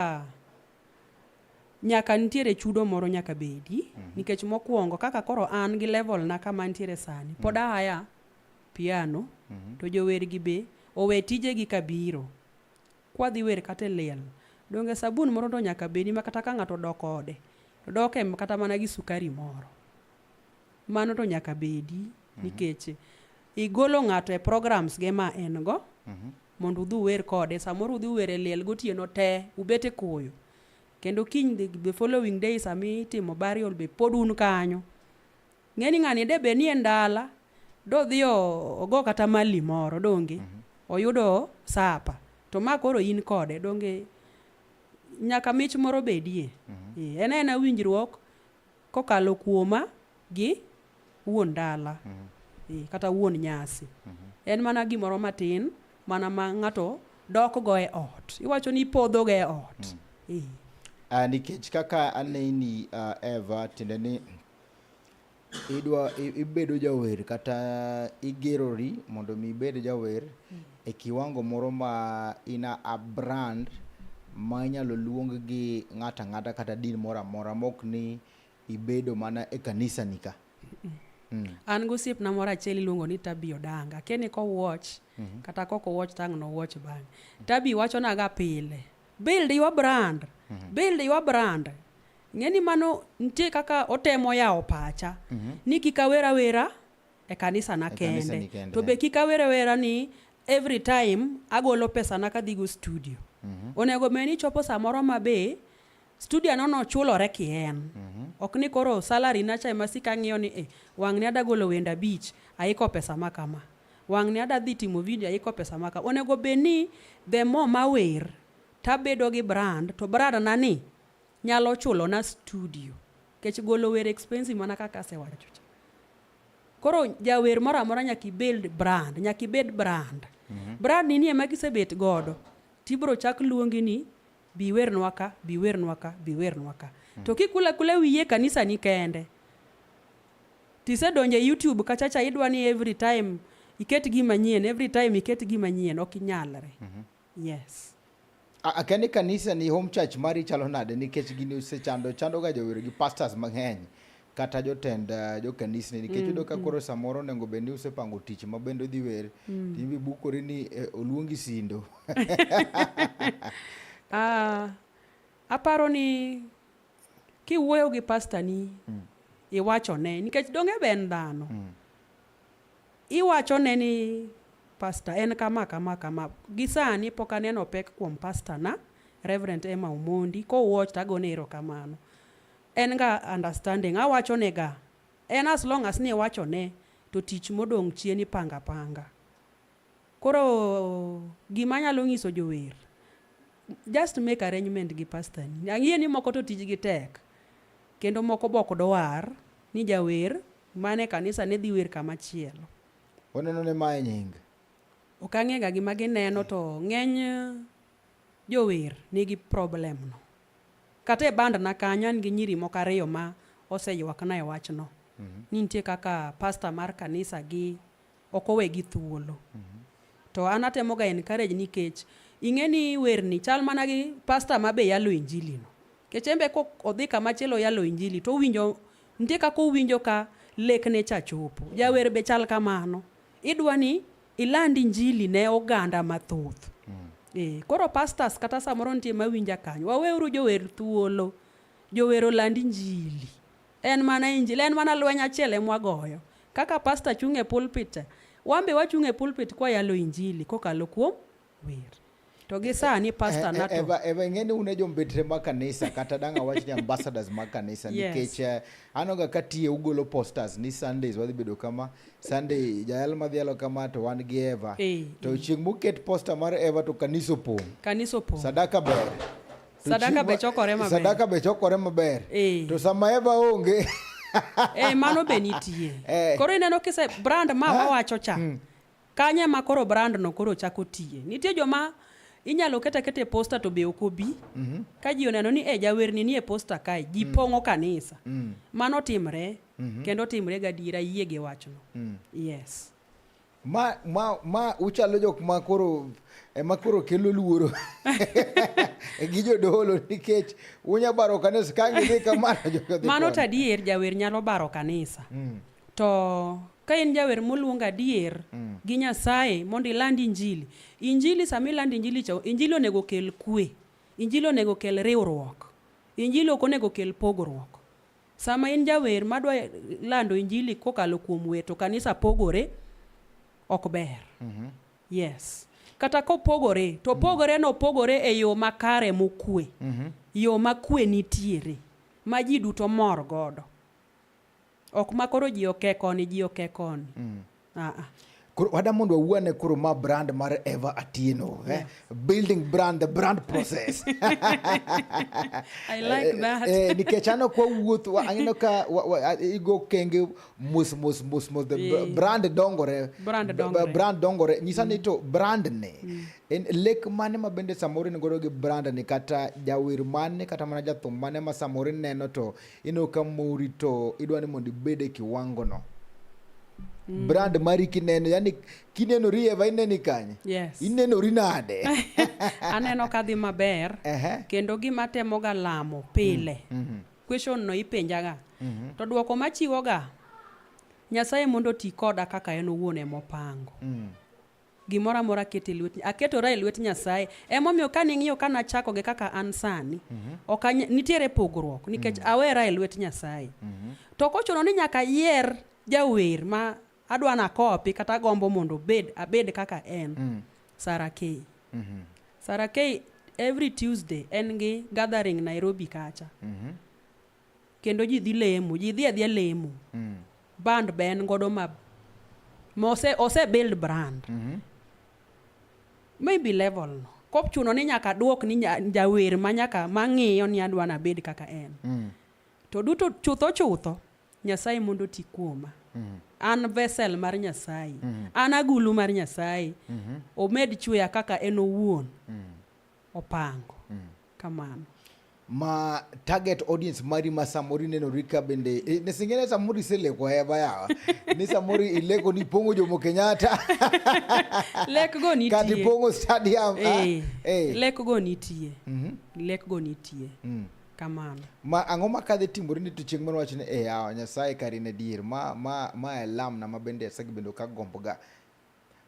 Ah, nyaka nitiere chudo moro nyaka bedi mm. nikech mokwongo kaka koro an gi level na kama nitiere sani mm. pod mhm. ahaya piano mm -hmm. to jowergi be owe tijegi kabiro kwadhi wer kata e liel donge sabun moro to nyaka bedi ma kata ka ng'ato dok ode to dok e kata mana gi sukari moro mano to nyaka bedi mm -hmm. nikech igolo ng'ato e programs ge ma en go mm -hmm. mondo udhi uwer kode. Samoro udhi uwer e liel gotieno te, ubet e koyo. Kendo kiny the, the following day sama itimo burial be pod un kanyo. Ng'eni ng'ani de be nie ndala, dodhi o- ogo kata mali moro donge oyudo sapa. To ma koro in kode donge nyaka mich moro bedie. Eh, En en winjruok Kokalo kuoma gi wuon dala mm -hmm. kata wuon nyasi mm -hmm. en mana gimoro matin mana ma ng'ato dokgo e ot iwacho ni ipodhoga e ot mm -hmm. uh, nikech kaka aneni uh, ah, Eva tiende ni idwa ibedo jawer kata igerori mondo mi ibed jawer mm -hmm. e kiwango moro ma in a, a brand ma inyalo luong gi ng'ato ang'ata kata din moro amora mok ni ibedo mana e kanisa ni ka mm. an gosiepna moro achiel iluongo ni tabi odanga keni kowuoch mm -hmm. kata kok owuoch tang' nowuoch bang'e tabi wachonaga pile build your brand mm -hmm. build your brand ng'eni mano nitie kaka otemo yawo pacha mm -hmm. ni kik awera wera e kanisa na kende to be kik awere wera ni every time agolo pesa na kadhigo studio mm -hmm. onego bed ni chopo samoro ma be studio no nochulore kien mm -hmm. ok ni koro salary na cha ema sika ng'iyo ni eh, wang'ni adagolo wenda beach aiko pesa ma kama wang'ni adadhi timo video aiko pesa ma kama onego bed ni the more mawer tabedo gi brand to brand na ni nyalo chulo na studio kech golo wer expensive mana kaka asewacho cha koro jawer moro amora nyaka ibuild brand nyaka ibed brand mm -hmm. brand ni ema gisebet godo tibro chak luongi ni biwernwa ka biwernwa ka biwernwa ka mm -hmm. to kikula kula wiye kanisa ni kende tisedonje youtube kachacha idwa ni every time iket gima nyien every time iket gima nyien ok inyalre mm -hmm. Yes. Akani kanisa ni home church mari chalo nade nikech gini osechando chando ga jowero gi pastors mang'eny kata jotend uh, jokanisni nikech mm, yudo ka mm. koro samoro onego bed ni usepango tich ma bende odhi wer mm. timbi bukori ni eh, oluongi sindo uh, aparo ni kiwuoyo gi pastani mm. iwachone nikech donge be en dhano mm. Iwachone ni, Pastor, en kama, kama, kama. Gi sani pok aneno pek kuom pastor na, Reverend Emma Omondi. Ko watch to agone erokamano. En ga understanding. Awachone ga. En as long as ni iwachone to tich modong' chien ipango apanga. Koro gima anyalo nyiso jower, just make arrangement gi pastor ni. Ang'e ni moko to tijgi tek. Kendo moko be ok dwar ni jawer Mane kanisa ne dhi wer kama chielo. Oneno ne mae nying. Ok ang'ega gima gineno to ng'eny jower nigi problem no. Kata e band na kanyo an gi nyiri moko ariyo ma oseywakna e wachno. Mm -hmm. Ni nitie kaka pasta mar kanisa gi ok owegi thuolo to an atemo ga encourage nikech ing'e ni werni chal mana gi pasta ma be yalo injili no kech embe ko odhi kama chielo yalo injili to owinjo nitie kaka owinjo ka lekne cha chopo jawer be chal kamano idwa ni iland injili ne oganda mathoth e, koro pastors kata samoro nitie mawinja kanyo waweuru jower thuolo jower oland injili En mana injili, en mana lweny achiel emwa goyo. Kaka pasta chung' e pulpit, wan be wachung' e pulpit kwa yalo injili kokalo kuom wer. To gi sani pasta eh, eh, nato. Eva, eva ing'e ni un e jombetre ma kanisa kata dang' awach ni ambassadors ma kanisa yes. nikech uh, eh, anoga ka tiye ugolo posters ni Sundays wadhi bedo kama Sunday jayal madhi yalo kama to wan gi Eva. Hey, to hey. chieng' moket poster mar Eva to kanisa opong'. Kanisa opong'. Sadaka ber. Sadaka be chokore maber. Sadaka be chokore maber. Eh. To sama Eva onge. Eh, mano be nitie. Eh. Koro ineno kise brand ma eh. wawacho cha. Hmm. Kanye ma koro brand no koro chako tiye. Nitie joma inyalo keta kete posta to be ok obi mm -hmm. ka ji oneno ni e jawerni nie posta kae ji mm. pong'o kanisa mm. mano timre mm -hmm. kendo timre gadiera yie gi wachno mm. yes Ma ma ma uchalo jok ma koro ema koro kelo luoro gi jodolo nikech unya baro kanisa ka ngidhi kamano jokodhi mano to adier jawer nyalo baro kanisa mm. to ka in jawer moluong adier mm. gi nyasaye mondo iland injili injili sama iland injili cha injili onego kel kwe injili onego kel riwruok injili ok onego kel pogruok Sama in jawer madwa lando injili kokalo kuom wer to kanisa pogore ok ber. Mm -hmm. Yes. Kata kopogore to mhm. pogore no pogore e yo makare mokwe. Mm -hmm. Yo makwe nitiere ma ji duto mor godo. Ok makoro ji oke koni ji oke koni. Mm. Uh -uh. Koro wada mondo wawuane koro ma brand mar Eva Atieno, eh? yeah. eh? Building brand the brand process. I like eh, that. Eh, nikech ano kwa wuoth ang'ino ka igo kenge mos mos mos mos the yeah. brand dongore. Brand dongore. Brand dongore. Nyisa mm. ni to brand ne. Mm. En lek mane ma bende samoro ni godo gi brand ni kata jawer mane kata mana jathum mane ma samoro neno to ineno ka mori to idwa ni mondo ibed e kiwango no mm. brand mari kineno yani kinenori eva ineni kanye yes. inenori nade aneno kadhi maber uh -huh. kendo gima temoga lamo pile mm -hmm. question no ipenjaga mm -hmm. to dwoko machiwoga nyasaye mondo ti koda kaka en owuon emopango mm. gimoro amora ket e lwet aketora e lwet nyasaye emomiyo kane ing'iyo ka nachako gi kaka an sani mhm. ok nitiere pogruok nikech mhm. awera e lwet nyasaye mhm. to kochuno ni nyaka yier jawer ma adwa nakopi kata agombo mondo obed abed kaka en mm. sara key sara key every tuesday en gi gathering nairobi kacha kendo ji dhi lemo ji dhi adhia lemo mm. band be en godo ma ose, ose build brand mm -hmm. maybe level no kop chuno ni nyaka duok ni jawer ma nyaka mang'iyo ni adwa nabed kaka en mm. to duto chutho chutho nyasaye mondo ti kuoma mm. an vesel mar nyasaye mm. an agulu mar nyasaye mm -hmm. omed chweya kaka en owuon mm. opango mm. kamano ma target audience mari ma samoro inenori ka bende e, eh, nesingene samoro iseleko heba yawa ni samoro ileko ni pongo jomo kenyatta lek go nitie kati pongo stadium hey, ah, eh, hey. Eh. lek go nitie mm -hmm. lek go nitie mm. kamano ma ang'o ma kadhi timore ni to chieng' moro wach ni e yawa nyasaye kari ne dier ma ma ma e lamna ma bende asegbedo ka gomboga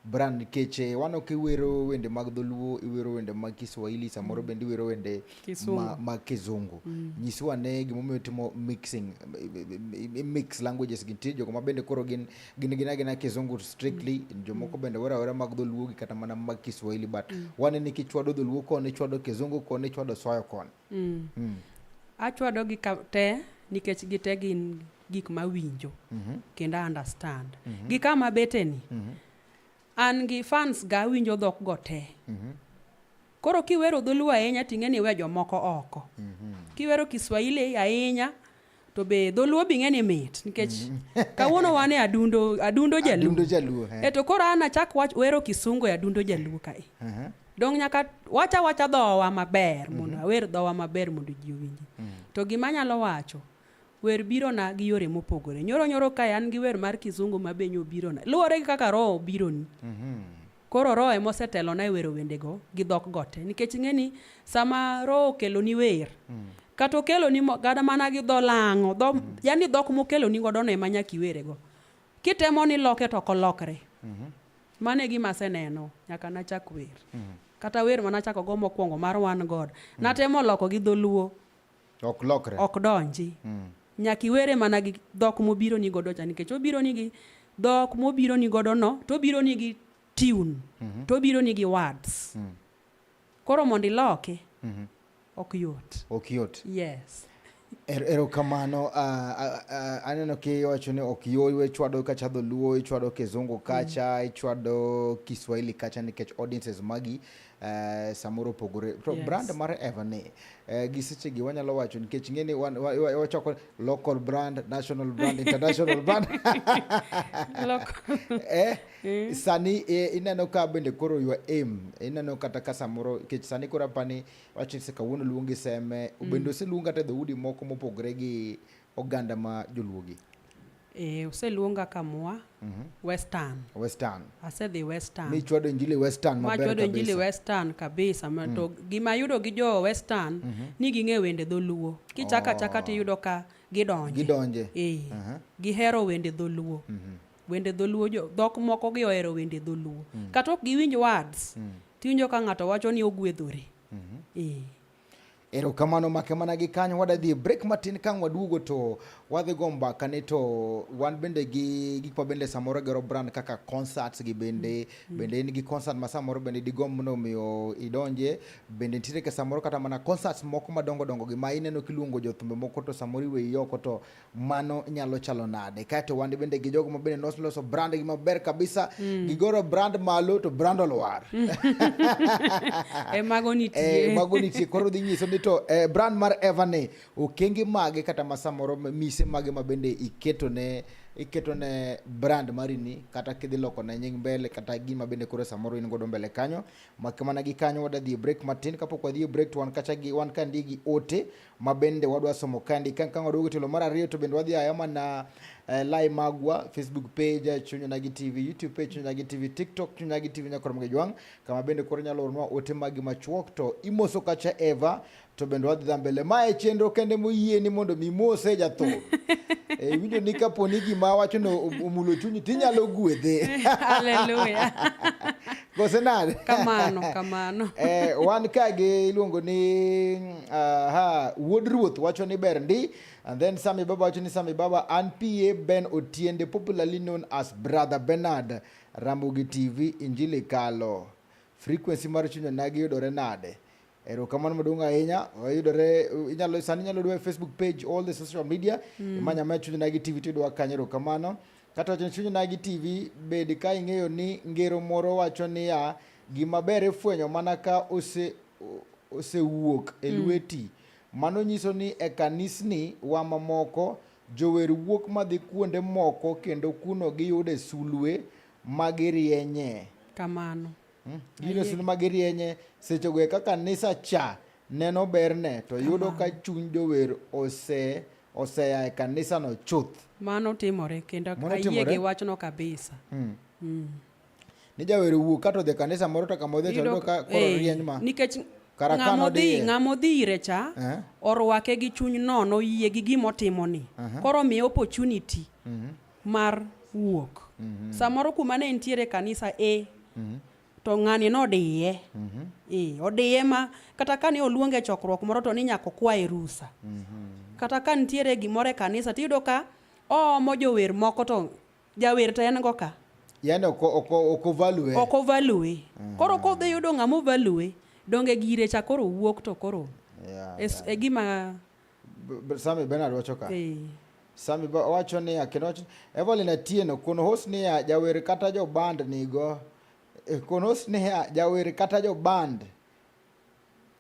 Bran nikech eh, wano kiwero wende mag dholuo iwero wende mag Kiswahili samoro mm. bende iwero wende mag ma kizungu mm. nyiswa ne gimomiyo timo mixing mix languages gintie jogo ma bende koro gin gin gina gina kizungu strictly mm. jomoko bende wera wera mag dholuo gi kata mana mag Kiswahili but mm. wane ni kichwado dholuo koni chwado kizungu koni chwado soyo koni mm. mm. achwado gi te nikech gite gin gik ma winjo mhm. kendo understand mhm. gi kama beteni mhm. an gi fans ga awinjo dhok go te koro kiwero dholuo ahinya ting'e ni we jomoko oko kiwero kiswahili ahinya to be dholuo bing'e ni mit nikech kawuono wan e adundo adundo jaluo e to koro an achak wach wero kisungu e adundo jaluo kae dong nyaka wacha wacha dhowa maber mondo awer dhowa maber mondo ji owinji to gima anyalo wacho Wer birona gi yore mopogore. Nyoro nyoro kae an gi wer mar kizungu ma be nyo birona. Luwore gi kaka roho obironi. Koro roho ema osetelona e wero wendego gi dhok go te. Nikech ing'eni sama roho okeloni wer, kata okeloni mo- kata mana gi dho lang'o, dho, yani dhok mokeloni godo no ema nyaka iwere go. Kitemo ni iloke to ok olokre. Mano e gima aseneno nyaka nachak wer. Kata wer mane achako go mokwongo mar Wan God, natemo loko gi dholuo. ok lokre ok donji mm. nyaka iwere mana gi dhok mobiro ni godo cha nikech obiro ni gi dhok mobiro ni godo no to obiro ni gi tune mm -hmm. to obiro ni gi words mm. koro mondo iloke mm -hmm. ok yot ok yot yes Er, erokamano uh, uh, aneno kiwacho ni ok yoywe ichwado kacha dholuo ichwado kizungu kacha mm. ichwado kiswahili kacha nikech audiences magi Uh, samoro opogore to yes. brand mar Everny uh, gi seche gi wanyalo wacho nikech ng'e ni wachoko local brand national brand international brand eh, mm. sani eh, ineno ka bende koro your aim ineno kata ka samoro nikech sani koro apani wacho se kawuono luongi seme mm. bende oseluong kata dhoudi moko mopogore gi oganda ma joluo gi e, oseluonga kamwa mm -hmm. western western asedhi western mi chwado injili western maber kabisa injili western kabisa mm. to gima yudo gi jo western mm -hmm. ni ging'e wende dholuo kichaka oh. chaka tiyudo ka gidonje gidonje e, uh -huh. gihero wende dholuo mm -hmm wende dholuo jo dhok moko gi ohero wende dholuo mm. kata ok giwinj words mm. tiwinjo ka ng'ato wacho ni ogwedhore mm -hmm. e. Erokamano make mana gi kanyo wadadhi break matin kang' waduogo to wadhi go mbaka ni to wan bende gi gik ma bende samoro gero brand kaka concerts gi bende mm. bende in gi concert ma samoro bende digomb ni omiyo idonje bende nitiere ke samoro kata mana concerts moko madongo dongo gi ma ineno kiluongo jothumbe moko to samoro iweyi oko to mano nyalo chalo nade kaeto wan bende gi jogo mabende noloso brand gi maber kabisa mm. gigoro brand malo to brand olwar mm. e mago nitie e mago nitie koro dhi nyiso ni to e, brand mar evane okenge mage kata ma samoro mise mage ma bende iketo ne iketo ne brand mari ni kata kidhi loko ne nying mbele kata gima bende koro samoro in godo mbele kanyo makmana gi kanyo wadadhi e break matin kapok wadhi e break to wan kacha gi wan ka ndi gi ote ma bende wadwa somo kandi ka kang waduogo telo mar ariyo to bende wadhi aya mana eh, lai magwa facebook page eh, chunya nagi tv youtube page chunya nagi tv tiktok chunya nagi tv nyakoro mge jwang kama bende koro nyalo ornwa ote magi machuok to imoso kacha eva to bende wadhi dha mbele ma e chenro kende moyie ni mondo mi mose jatho e winjo ni kapo ni gima wacho no omulo chunyi tinyalo gwedhe haleluya kose nade kamano kamano eh, wan ka gi iluongo ni aha wuod ruoth wacho ni ber ndi and then sami baba wacho ni sami baba an pa ben otiende popularly known as brother bernard ramogi tv injili kalo frequency mar chunya nagi yudore nade erokamano maduong' ahinya yudore inyalo sani inyalo dwa facebook page all the social media mm. imanya ma chuny nagi tv tidwa kanyo erokamano kata wacho ni chuny nagi tv bed ka ing'eyo ni ngero moro wacho niya gima ber ifwenyo mana ka ose osewuok e mm. lweti mm. mano nyiso ni e kanisni wa mamoko jower wuok madhi kuonde moko kendo kuno giyude sulwe ma girienye kamano Hmm? Gino sino magirienye seche go eka kanisa cha neno berne to yudo ka chuny jower ose oseya e kanisa no chuth. Mano timore kendo ayie gi wachno kabisa. Hmm. Hmm. Ni jawer wuok kato dhe kanisa moro to kama odhi to yudo ka koro eh, rieny ma. Nikech ng'amodhi ng'amodhi ire cha eh? orwake gi chuny nono yie gi gimotimoni. Uh-huh. Koro miye opportunity. Mm-hmm. mar wuok mhm. samoro kuma ne entiere kanisa e mhm. to ng'ani nodiye mhm. e odiye ma kata kane oluonge chokruok moro to ni nyaka okwaye rusa kata ka nitiere gimoro e kanisa tiyudo ka oomo jower moko to jawer to en go ka yani okovalue okovalue koro kodhi yudo ng'ama ovalue donge gire cha koro wuok to koro e gima Sami Bernard wacho ka. Eh. Sami wacho ni akeno wacho Evelyn Atieno kono host ni ya jawer kata jo band nigo. Eh, kono host ni ya jawer kata jo band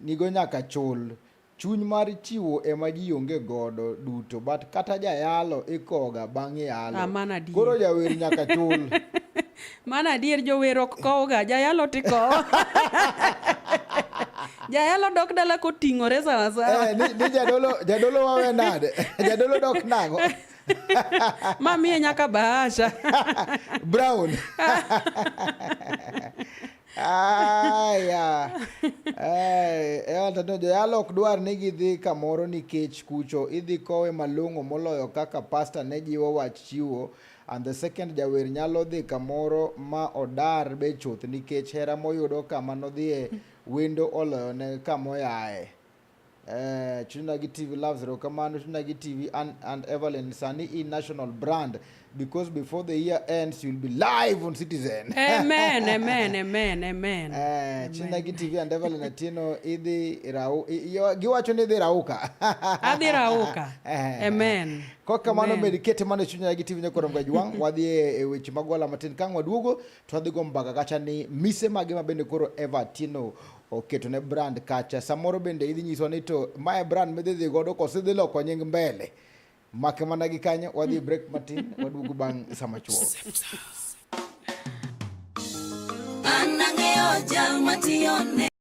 nigo nyaka chul. Chuny mar chiwo ema ji onge godo duto but kata jayalo ikoga bang' yalo. Ah, Koro jawer nyaka chul. Mano adier jower ok kowga, jayalo to ikowo. Jayalo dok dala koting'ore sawa sawa. Eh, ni, ni jadolo, jadolo wawe nade? jadolo dok nago. Ma miye nyaka bahasha. Brown. Aya. Eh, eh, antanio joyalo ok dwar ni gidhi kamoro nikech kucho idhi kowe malong'o moloyo kaka pasta ne jiwo wach chiwo and the second jawer nyalo dhi kamoro ma odar be chuth nikech hera moyudo kama nodhie wendo oloyone kamoyaye eh, Chunagi TV loves Rokamano, Chunagi TV and, and Evelyn Sani in national brand because before the year ends you'll be live on Citizen. Amen, amen, amen, amen. Eh, Chunagi TV and Evelyn Atino idhi rau, giwacho ni idhi rauka. Adhi rauka. Eh. Amen. Kok kamano med kete mana e chunya gi TV ne koro mgaji wang wadhi e, e weche mag wala matin kang waduogo to wadhi go mbaka kacha ni mise mage ma bende koro Evertino oketo ne brand kacha samoro bende idhi nyiswa ni to mae brand midhi dhi godo kose dhi loko nying mbele make mana gi kanyo wadhi e break matin waduogo bang' sama chuo Anang'eyo jal matiyone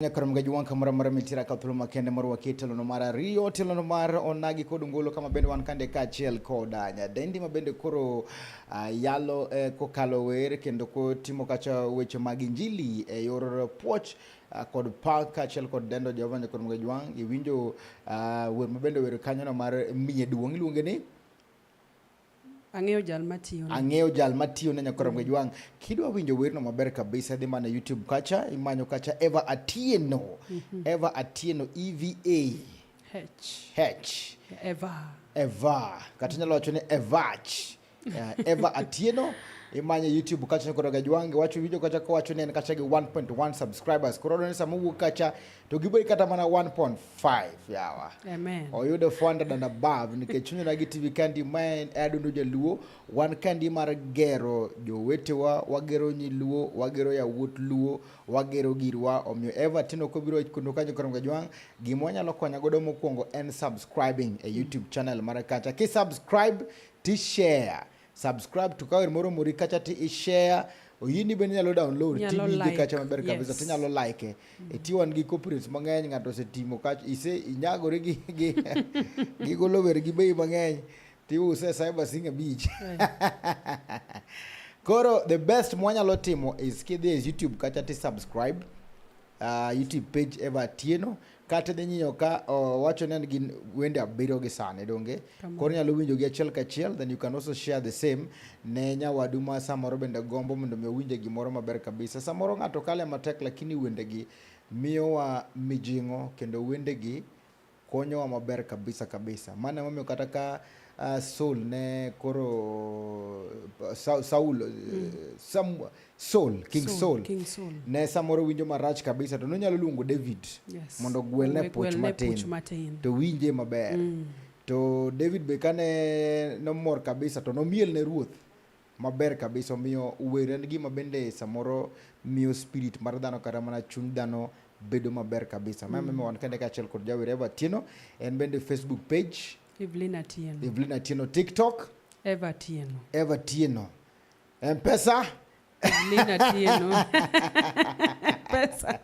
Nyakoro mga juwan kamora mara mitira ka thuolo makende moro wakie telono mar ariyo telono mar onagi kod ngolo kama bende wan kande kaachiel koda nyadendi ma bende koro uh, yalo eh, kokalo wer kendo kotimo kacha weche mag injili e yor puoch uh, kod pak kaachiel kod dendo Jehova Nyakoro mga juwan iwinjo uh, wer ma bende wer kanyono mar miye duong' iluonge ni Ang'eyo jal matiyo. Ang'eyo jal matiyo ne nyakora mm. Gwejwang. Kidwa winjo werno maber kabisa dhi mana YouTube kacha imanyo kacha Eva Atieno. Mm -hmm. Eva Atieno E V A H. H. Eva. Eva. Kata nyalo wacho ni Evach. Yeah, Eva Atieno imanye YouTube kacha nyakora Gwejwang wacho video kacha ko wacho ne kacha gi 1.1 subscribers. Koro ne samowuok kacha to giboyi kata mana 1.5 yawa oyudo 400 and above nikech chunyona gi tv kandi ma en adundo jaluo wan kandi mar gero jowetewa wagero nyiluo wagero yawuot luo wagero girwa omiyo everton ok obiro kondo kanyo koro gajwang' gima wanyalo konya godo mokwongo en subscribing e youtube channel mara kacha kisubscribe tishare subscribe to kawer moro mori kacha ti ishare oyini bende nyalo download tiwinje kacha maber kabisa yes. tinyalo like mm. e tiwan gi copyrights mang'eny ng'ato osetimo kacha ise inyagore gi gi gi golo wer gi bei mang'eny tiuse cyber sing abich koro the best mwanyalo timo is kidhi e youtube kacha ti subscribe uh, YouTube page Eva Atieno kata dhi nyiyo ka uh, wacho ni gin wende abiriyo gi sani donge koro nyalo winjo gi achiel kachiel then you can also share the same ne nyawadu ma samoro bende gombo mondo mi owinje gimoro maber kabisa samoro ng'ato kale matek lakini wendegi miyowa mijing'o kendo wendegi konyowa maber kabisa kabisa. Mano emomiyo kata ka uh, Saul ne koro uh, Sa, Saul uh, mm. Sam, Saul King Saul, Saul. King Saul ne samoro winjo marach kabisa to nonyalo luongo David yes. mondo gwelne puch matin, matin to winje maber mm. to David be kane nomor kabisa to nomiel ne ruoth Maber kabisa, omiyo wer en gima bende samoro miyo spirit mar dhano kata mana chuny dhano bedo maber kabisa. Mama mm. wan kende kaachiel kod jawer Eva Atieno, en bende Facebook page Evelyn Atieno, Evelyn Atieno TikTok Eva Atieno, Eva Atieno Mpesa Evelyn Atieno Mpesa.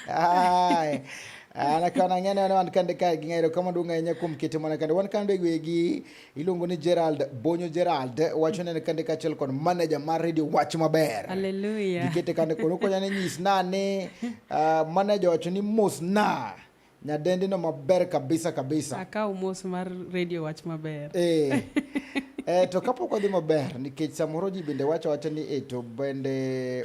Haya. Ah, Anakana ngene wana wankande ka gingero kama dunga yenye kumkete mwana kande wankande gwegi iluongo ni Gerald Bonyo Gerald wacho nene kande kachiel kod manager mar radio wach maber haleluya gikete kande kono konya ne nyis na ni uh, manager wacho ni mos na nyadendi no maber kabisa kabisa akaw mos mar radio wach maber eh eh to kapok odhi maber nikech samoro ji bende wacho wacho ni eh to bende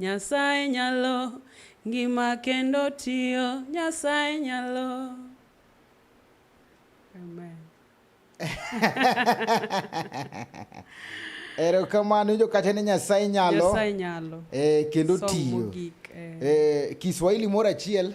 Nyasaye nyalo ngima kendo tiyo Nyasaye nyalo Amen. Erokamano ijo kata ni Nyasaye nyalo. Nyasaye nyalo. Eh, kendo tiyo. Eh. Eh, Kiswahili moro achiel.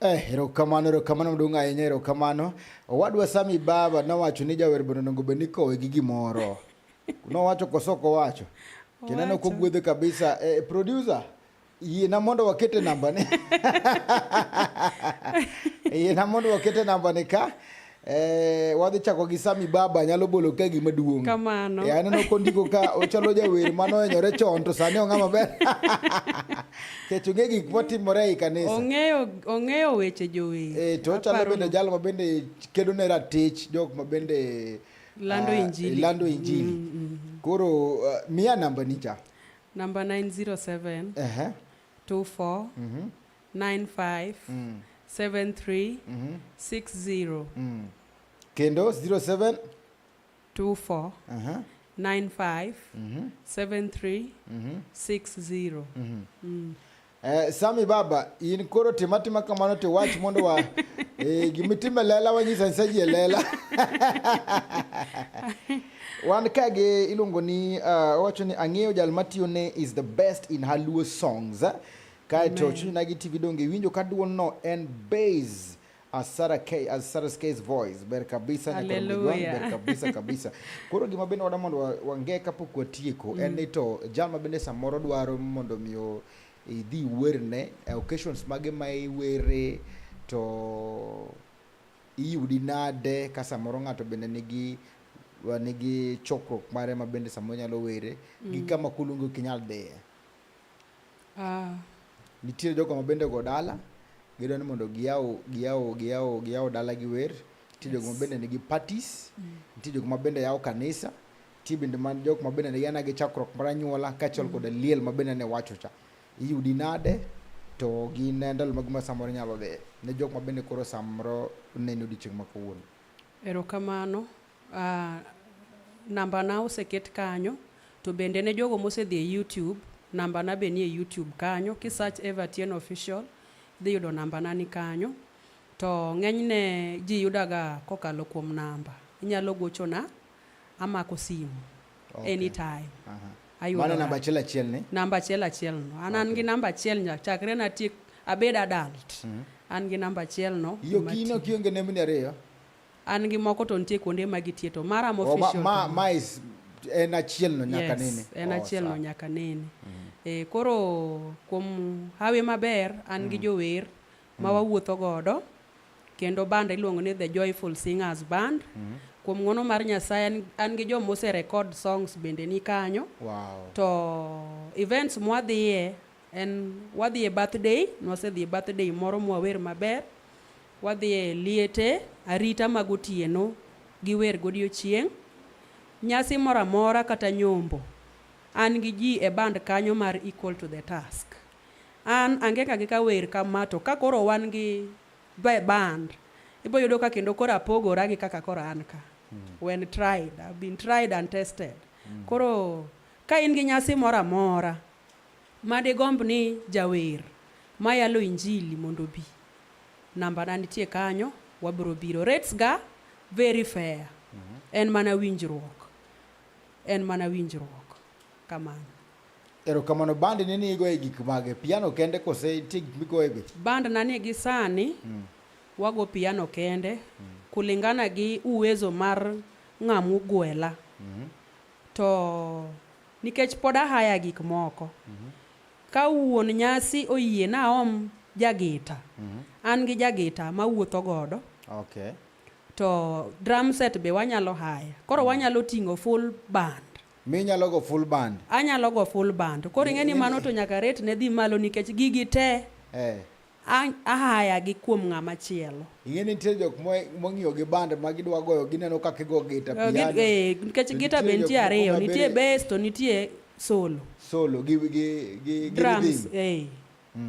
Eh, erokamano erokamano maduong' ahinya erokamano owadwa sami baba nowacho ni jawer bende onego bed ni kowe gi gimoro nowacho koso ok owacho kineno kogwedhe kabisa eh, producer yiena mondo wakete nambane yiena mondo wakete nambane ka Eh, wadhi chako gi Sami Baba nyalo bolo ka gima duong'. Kamano. Eh, aneno kondiko ka ochalo jawer mano enyore chon to sani ong'a maber. Kech ong'e gik motimore e kanisa. Ong'eyo ong'eyo weche jower. Eh, to ochalo bende jal ma bende kedo ne ratich jok ma bende lando uh, injili. Lando injili. Mm, mm, mm. Koro uh, miya namba ni cha. Namba 907. Eh. Uh -huh. 24. Mm -hmm. 95 mm. 73 mm -hmm. 60 mm. kendo 07 24 uh -huh. 95 mm -hmm. 73 mm -hmm. 60 mm -hmm. mm. Eh, Sami baba in koro tima tima kamano to wach mondo wa eh, gimitime lela wanyisa nsaji e lela wan ka gi iluongo ni uh, owacho ni ang'eyo jal matiyo ne is the best in haluo songs eh? Kae to Chunyo Nagi TV donge iwinjo ka duol no en base as Sarah K as Sarah's case voice ber kabisa Hallelujah. ber kabisa kabisa koro gima bende wada mondo wange kapok watieko mm. en ni to jal ma bende samoro dwaro mondo miyo idhi werne eh, occasions mage ma iwere to iyudi nade ka samoro ng'ato bende nigi nigi chokruok mare ma bende samoro nyalo were mm. gi kama kulungu kinyal dhiye Ah. Nitie jogo ma bende go dala gidwa ni mondo giyaw giyaw giyaw giyaw dala gi wer. Nitie jogo ma bende nigi parties. Mm. Nitie jogo ma bende yawo kanisa. Nitie bende man jok ma bende yana gi chakruok mar anyuola kaachiel mm. koda liel ma bende ne wacho cha. Iyudi nade to gin ndalo mag ma samoro nyalo dhi ne jok ma bende koro samoro neno odiechieng' ma kawuono. Erokamano. Uh, nambana oseket kanyo to bende ne jogo mosedhi e YouTube nambana be nie YouTube kanyo ki search Eva Tieno official dhi yudo nambana ni kanyo to ng'enyne ji yudaga kokalo kuom namba inyalo gochona amako simu okay. anytime uh -huh. Mano namba achiel achiel ni? Namba achiel achiel no. An an gi namba achiel nya chakre na tiek abed adult. Mm -hmm. An gi namba achiel no. Yo kino kionge nembni ariyo. An gi moko to nitie kuonde ma gitiye to mara mo oh, official. Ma, ma, ma is en achiel no nyaka yes, nene. En oh, achiel no nyaka nene. Mm -hmm. E, koro kuom hawi maber an mm. gi jower ma mm. wawuotho godo kendo band iluongo ni The Joyful Singers Band. Mm -hmm. Kuom ng'ono mar Nyasaye an, an gi joma ose record songs bende ni kanyo. Wow. To events mwadhiye en wadhiye birthday, nwasedhiye birthday moro mwawer maber. Wadhi e liete, arita mag otieno, gi wer godiechieng', nyasi moro amora kata nyombo, an gi ji e band kanyo mar Equal to the Task. An angega gi ka wer kama to ka koro wan gi the band, ibo yudo ka kendo koro apogora gi kaka koro an ka. Mm. When tried, I've been tried and tested. Mm. Koro ka in gi nyasi moro amora ma digomb ni jawer mayalo injili mondo obi, Namba na nitie kanyo, wabiro biro. Rates ga very fair. Mm -hmm. En mana winjruok. En mana winjruok. Kamano. Erokamano band ni ni igoye gik mage? Piano kende kose nitie gik migoye be? Band na ni gi sani mm. wago piano kende mm. kulingana gi uwezo mar ng'amu gwela. Mm -hmm. To nikech pod ahaya gik moko. Mm -hmm. Ka wuon nyasi oyie naom jagita, an gi jagita mawuotho godo. Okay. To drum set be wanyalo hire. Koro wanyalo ting'o full band. Minyalo go full band? Anyalo go full band. Koro ing'e ni mano to nyaka rate ne dhi malo nikech gigi te. Eh. An ahaya gi kuom ng'ama chielo. Ing'e ni nitie jok mo- mong'iyo gi band ma gidwa goyo gineno ka kigo gita Eh, piano. gi- eh, Nikech To gita be jok nitie moko ariyo, ma be nitie bass to nitie solo. solo gi gi gi gi drums rhythm. eh.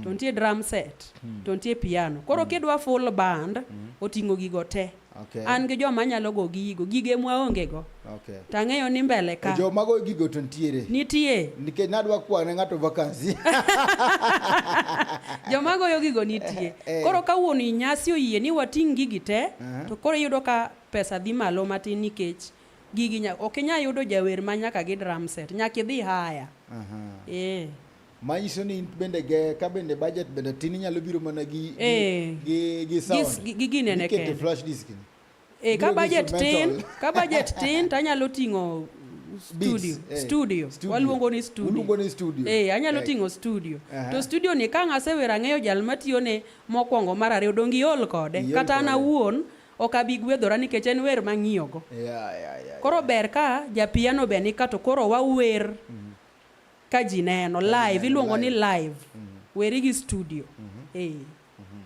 to nitie drum set to nitie piano koro kidwa full band oting'o gigo te Okay. An gi joma anyalo go gigo, gige mwaonge go. Okay. To ang'eyo ni mbele ka. Jo mago gigo to nitiere. Nitie. Nikech nadwa kwa ne ng'ato vacancy. Jo mago yo gigo nitie. Eh. Koro ka wuon nyasi oyie ni wating' gigi te, uh -huh. to koro iyudo ka pesa dhi malo matin nikech gigi nya, ok inya yudo jawer ma nyaka gi drum set, nyaka idhi haya. Uh -huh. Eh. manyiso ni bende ge ka bende budget bende tin inyalo biro mana gi gi eh. gi gi sound gi gi nene ke flash disk ni eh ka budget tin ka budget tin to anyalo ting'o studio eh, studio waluongo ni studio ni studio eh anyalo eh. ting'o studio uh -huh. to studio ni ka ngasewera ng'eyo jal matiyo ne mokwongo mar ariyo dongi iol kode kata an awuon ok abi gwedhora nikech en wer mang'iyogo yeah, yeah, yeah, koro ber ka japiano be ni ka to koro wawer mm -hmm ka ji neno live iluongo ni live mm -hmm. weri gi studio mm -hmm. hey. mm -hmm.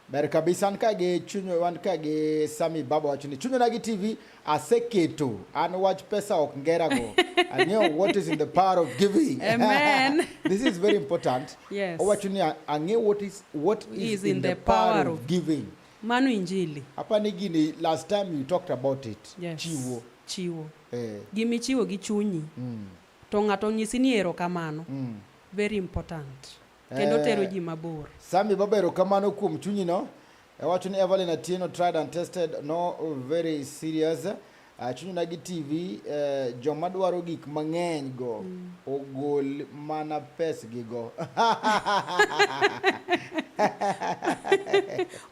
ber kabisa an ka gi chuny wan ka gi sami baba wacho ni chunyona gi tv aseketo an wach pesa ok ngera go i know what is in the power of giving amen this is very important yes. owacho ni ang'e what is, what is, is in, in the, the power, power of giving mano injili hapa ni gini last time you talked about it yes. chiwo chiwo eh. gimichiwo gi chunyi mm. to ng'ato onyisi ni erokamano mm. very important kendo eh, tero ji mabor sami baba erokamano kuom chunyi no ewacho ni evelyn atieno tried and tested no very serious ah, chunyi na gi tv eh, joma dwaro gik mang'eny go mm. ogol mana pes gi go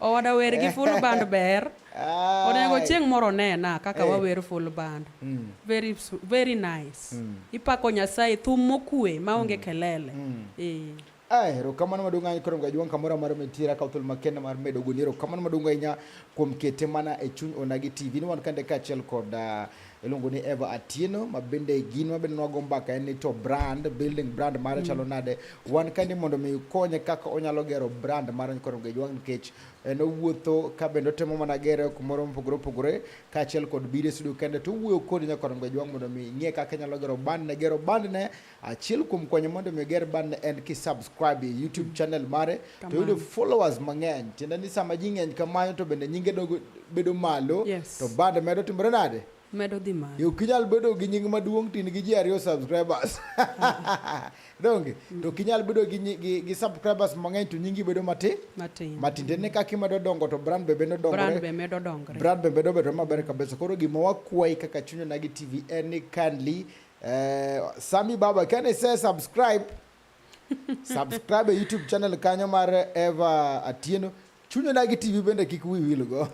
owada wer gi full band ber Ah. Onego chieng' moro nena kaka hey. Eh. wawer full band. Mm. Very very nice. Mm. Ipako Nyasaye thum mokue maonge mm. kelele. Mm. Eh. Ah, erokamano maduong' ahinya koro mgajuang' kamoro amora mitiere akaw thuolo makende mar medo goni erokamano maduong' ahinya kuom kete mana e chuny onagi tv ni wan kande kaachiel kod uh, iluongo ni Eva Atieno ma bende gin ma bende nwago mbaka en ni to brand building brand mare mm. chalo nade wan ka ni mondo mi konye kaka onyalo gero brand mare koro Gejwang nikech en owuotho ka bende otemo mana gere kumoro mopogore opogore kaachiel kod biro e studio kende to owuoyo kodi nyaka Orengo Ajwang' mondo mi ing'e kaka inyalo gero bandne gero bandne achiel kuom konyo mondo mi oger bandne en ki subscribe e YouTube channel mare to yudo followers mang'eny tiende ni sama ji ng'eny kamano to bende nyinge dogo bedo malo Yes. to band medo timore nade medo dhi malo. Yo kinyal bedo gi nying maduong' tin gi ji ariyo subscribers. Donge? To kinyal bedo gi gi, gi subscribers mang'eny to nyingi bedo matin. Matin. Matin ne kaka imedo dongo to brand be medo dongore. Brand be medo dongore. Brand be medo bedo maber kabisa. Koro gima wakwayi kaka Chunya Nagi TV en ni kindly eh, Sami Baba can I say subscribe subscribe e youtube channel kanyo mar eva atieno chunyo nagi tv bende kik wi wilgo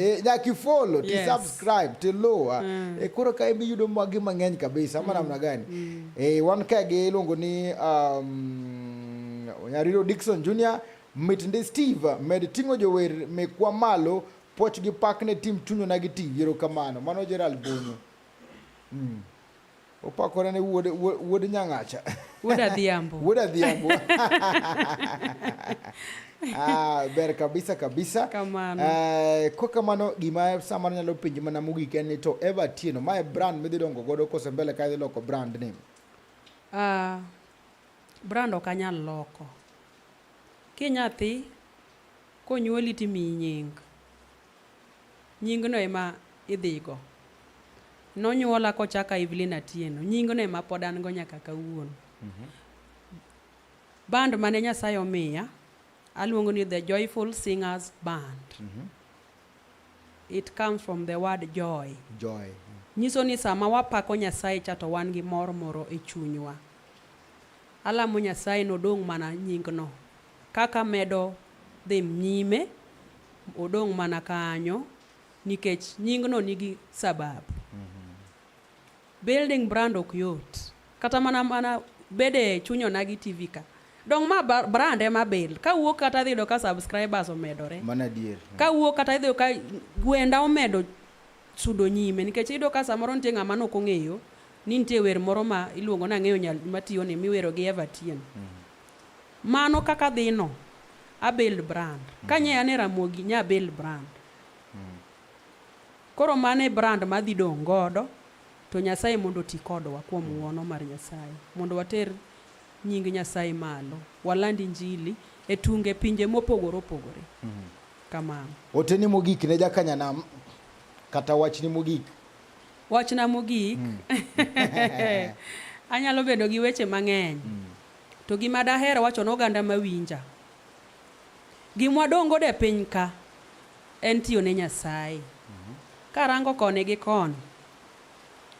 eh, nyaka ifolo ti subscribe ti luwa mm. e eh, koro ka imi yudo magi mang'eny kabisa ama mm. namna gani mm. e, wan ka gi iluongo ni um, nyariro dikson junior mit ndi steve med ting'o jower mekwa malo poch gi pak ne tim chunyo nagi tv erokamano mano gerald bonyo mm. Opakore ne wuod wuod Nyang'acha. Wuod Adhiambo. Wuod Adhiambo. ah, ber kabisa kabisa. Kamano. Eh, kwa kamano gima samar nyalo penjo mana mogik en ni to Eva Tieno ma e brand midhi dongo godo kose mbele ka idhi loko brand ni. Ah, brand ok anyal loko. Kinyathi konyuoli timiyi nying. Nyingno ema idhigo. Nonyuola kochaka Evelyn Atieno. Nyingno ema pod an go nyaka kawuono. Mm -hmm. Band mane Nyasaye omiya aluongo ni The Joyful Singers Band. Mm -hmm. It comes from the word joy. Joy. Nyiso ni sama wapako Nyasaye cha to wan gi mor moro e chunywa. Alamo Nyasaye nodong' mana nyingno. Kaka medo dhi nyime, odong' mana kanyo nikech nyingno nigi sababu. Mm -hmm. Building brand ok yot. Kata mana mana bede chunyona gi TV ka. Dong ma brand ema bil. Ka wuok kata idhi yudo ka subscribers omedore. Mana dier. Ka wuok kata idhi ka gwenda omedo sudo nyime nikech iyudo ka samoro nitie ng'ama nok ong'eyo ni nitie wer moro ma iluongo ni ang'eyo nyal matiyo ni miwero gi Evertien. Mm -hmm. Mano kaka dhino Abel brand. Ka nye ane Ramogi nya Abel brand. Koro mano e brand ma adhi dong' godo to Nyasaye mondo oti kodwa kuom ng'wono mar Nyasaye mondo water nying Nyasaye malo, waland injili e tunge pinje mopogore opogore. Kamano. Oteni mogik ne jakanyanam kata wachni mogik? Wachna mogik, anyalo bedo gi weche mang'eny To gima daher wacho ne oganda mawinja, gimwa dongo de piny ka en tiyo ne Nyasaye. Karango koni gi koni,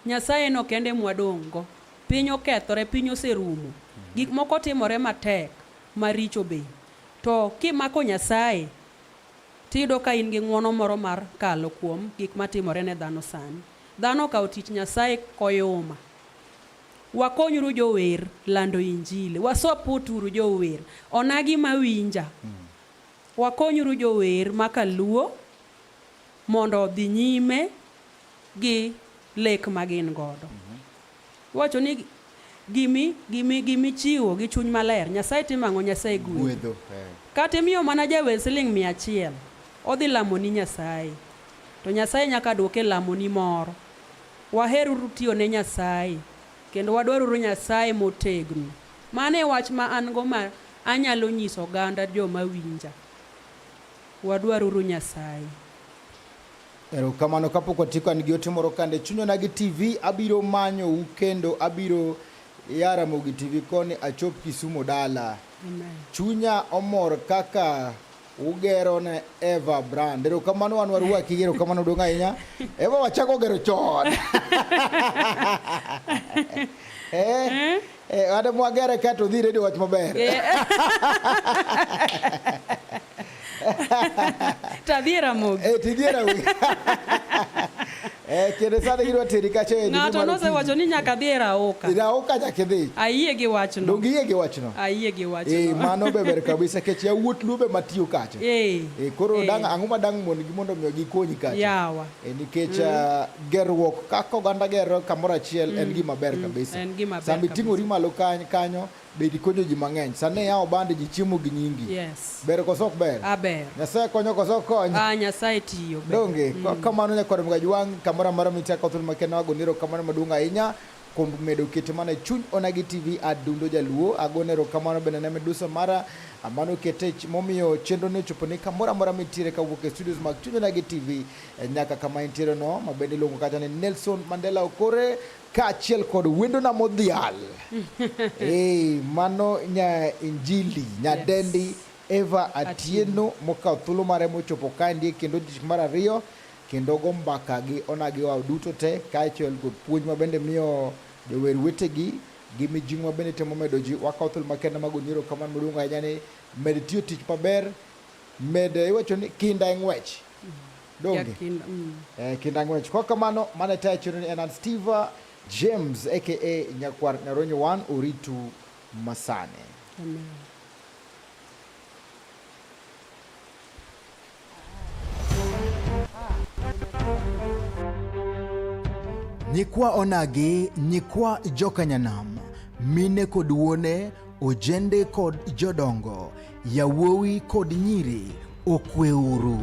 Nyasaye no kende mwadong'go. Piny okethore, piny oserumo. Gik moko timore matek, maricho be. To kimako Nyasaye, tiyudo ka in gi ng'wono moro mar kalo kuom gik matimore ne dhano sani. Dhano okawo tich Nyasaye koyuma. Wakonyuru jower lando injili. Wasupport uru jower. Onagi mawinja. Hmm. Wakonyuru jower makaluo mondo odhi nyime gi lek magin godo. Hmm. Wacho ni gimi gimi gimi chiwo gi chuny maler nyasaye timango nyasaye gwedho eh. kata imiyo mana jawer siling mia achiel odhi lamoni nyasaye to nyasaye nyaka duoke lamoni moro Waheruru tiyo ne Nyasaye, kendo wadwaruru Nyasaye motegno. Mano e wach ma an-go ma anyalo nyiso oganda joma winja. Wadwaruru Nyasaye. Erokamano kapok watieko an gi ote moro kande chunyona gi TV abiro manyou kendo abiro ya Ramogi TV koni achop Kisumo dala. Amen. Chunya omor kaka ugero ne Eva Brand. Erokamano wan warwaki gi erokamano duong' ahinya. Eva wachako gero chon. Eh, eh, ade mwagere ka to dhi redio wach maber. Eh. Tadhiera mogi. Eh, tidhiera mogi. Eh, kendo sani gidwa teri kacha e ng'ato nosewacho ni nyaka dhi e raoka e raoka nyaka idhi ayie gi wachno donge iyie gi wachno ayie gi wachno eh mano be ber kabisa kech ya wuot lube matiyo kacha eh, eh koro eh. dang ang'o ma dang mon gi mondo miyo gikonyi kacha yawa eh nikech mm. ah, gerruok kaka oganda gero kamoro achiel en mm, gima ber mm, kabisa en gima ber sami ting'ori malo kanyo Be ikonyo ji mang'eny. Sani iya obande ji chiemo gi nyingi. Yes. Ber koso ok ber? A ber. Nyasaye konyo koso ok konyo? Ah, Nyasaye tiyo. Ber. Donge, mm. kamano nyakwar mgaji wang' kamoro amora michako thul makena wago niro kamano maduong' ahinya kuom medo kete mana e chuny onagi tv adundo jaluo agone erokamano bende ne medusa mara mano kete momiyo chenro ni ochopo ni kamoro amora mitiere kawuok e studios mag chuny onagi tv e nyaka kama intiere no mabende iluongo kata ni nelson mandela okore kaachiel kod wendona modhial hey, mano nya injili nyadendi yes. Eva Atieno mokawo thuolo mare mochopo kaendi kendo tich mar ariyo kendo go mbaka gi onagi wao duto te kaachiel kod puonj ma bende miyo jower wetegi gi mijing'o bende temo medo ji wakawo thuolo makende mag onyiro kamano maduong' ahinya ni med tiyo tich maber med iwacho ni kinda e ng'wech donge kinda, mm. eh, kinda ng'wech kwa kamano mane tayo chiro ni en an Steve James aka Nyakwar Nyaronyo wan oritu masane Amen. Nyikwa onagi, nyikwa jokanyanam, mine kod wuone, ojende kod jodongo Yawuowi kod nyiri okweuru.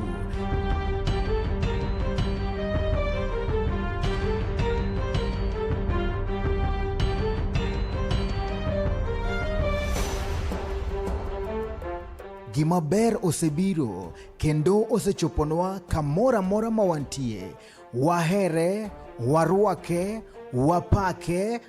Gima ber osebiro kendo osechoponwa kamoro amora ma wantie. Wahere, warwake, wapake,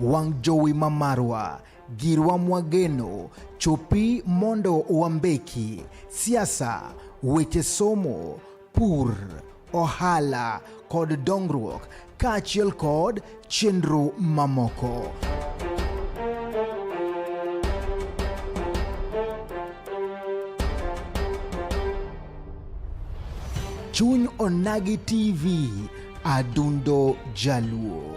wang' jowi ma marwa girwa mwageno chopi mondo wambeki siasa weche somo pur ohala kod dongruok kaachiel kod chenro mamoko. Chuny Onagi TV, Adundo Jaluo.